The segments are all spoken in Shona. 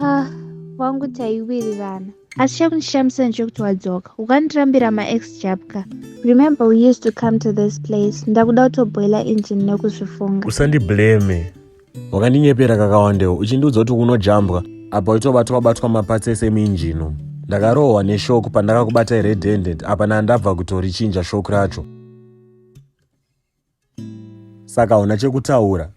ah, wangu taiwirirana asi chakundishamisa ndechokuti wadzoka ukandirambira maex jabka remember we used to come to this place ndakuda kutobhoila engine nekuzvifunga usandiblame wakandinyepera kakawandewo uchindiudza kuti kunojambwa apa uchitobatwa batwa mapatsi ese muinjino ndakarohwa neshoku pandakakubata iredendent apa nandabva kutorichinja shoku racho saka hauna chekutaura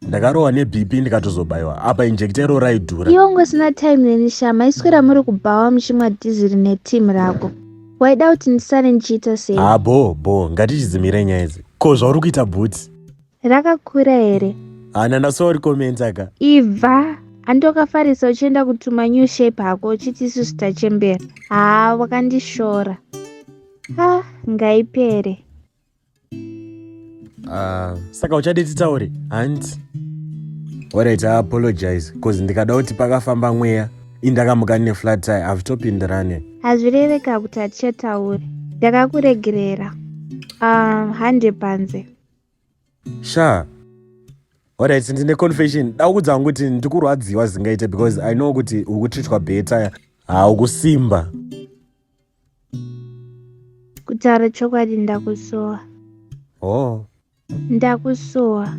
ndakarohwa nebp ndikatozobaiwa apa injekta iro raidhura iwe ungosina time neni sha maiswera muri kubhawa muchimwa dhiziri neteam rako waida kuti ndisare ndichiita sei ha bo bo ngatichidzimire nyaya idzi ko zvauri kuita bhuti rakakura here hana ndasoa uri komenta ka ibva andokafarisa uchienda kutuma new shape hako uchiti isu zvitachembera haa wakandishora ha ngaipere uh, saka uchade titaure hanti alright i apologize bcause ndikada kuti pakafamba mweya indakamuka ne flat tire havitopindirane hazvireveka kuti hatichataure ndakakuregerera um, hande panze sha alright ndine confession dakudza wangu kuti ndikurwadziwa zingaite because i know kuti ukutritwa beta haukusimba kutaura chokwadi ndakusuwa oh ndakusuwa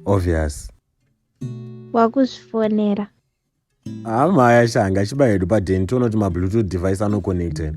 obvious wakuzvifonera hamaya shanga chiba hedu padeni tiona kuti mabluetooth device anoconnected